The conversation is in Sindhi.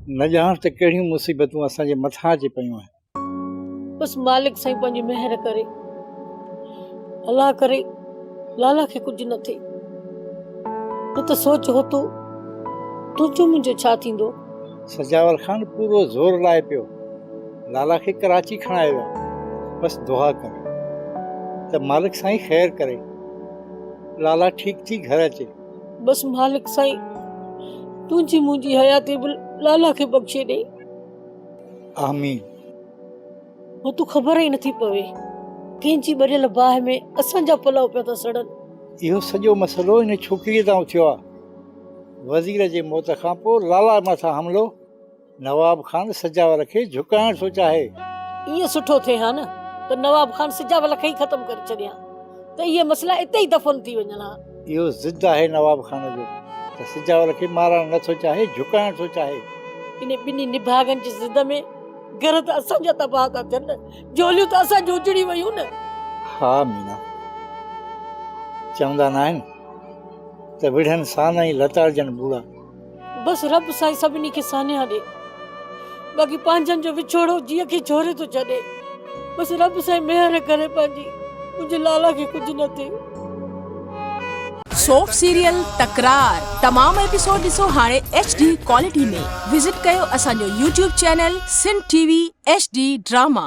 نه ڄاڻ ته ڪهڙيون مصيبتون اسان جي مٿان اچي پيون آهن. بس مالڪ سائين پنهنجي مهر ڪري. الله ڪري لالا کي ڪجهه نه ٿئي. نه ته سوچ هوتو تنهنجو منهنجو ڇا ٿيندو. سجاول خان پورو زور لائي پيو. لالا کي ڪراچي کڻائي ويا. بس دعا ڪري ته مالڪ سائين خير ڪري. لالا ٺيڪ ٿي گهر اچي. بس مالڪ سائين تنهنجي منهنجي حياتي به لالا کي بخشي ڏي آمين هو تو خبر ئي نٿي پوي ڪنهن جي ٻريل باهه ۾ اسان جا پلو پيا ٿا سڙن اهو سڄو مسئلو ان ڇوڪريء تان اٿيو آهي وزير جي موت کان پوء لالا مٿان حملو نواب خان سجاول کي جهڪائڻ ٿو چاهي. ائين سٺو ٿئي ها نه ته نواب خان سجاول کي ئي ختم ڪري ڇڏيان ته اهي مسئلا اتي ئي دفن ٿي وڃن ها. اهو ضد آهي نواب خان جو ته سجاول کي مارڻ نه ٿو چاهي، جهڪائڻ ٿو چاهي. انهي ٻنهي نڀاڳن جي ضد ۾ گهر ته اسان جا تباهه ٿا ٿين نه، جهوليون ته اسان جون اجڙي ويون نه. ها مينا، چوندا ناهن ته وڙهن سان نه ئي لتاڙجن ٻوڙا. بس رب سائين سڀني کي سانحا ڏي باقي پنهنجن جو وڇوڙو جيء کي جهوري ٿو ڇڏي بس رب سائين مهر ڪري پنهنجي منهنجي لالا کي ڪجهه نه ٿئي. سوپ سيريل تڪرار تمام ايپيسوڊ ڏسو هاڻي ايڇ ڊي ڪوالٽي ۾ وزٽ ڪيو اسان جو YouTube channel Sindh T V H D drama.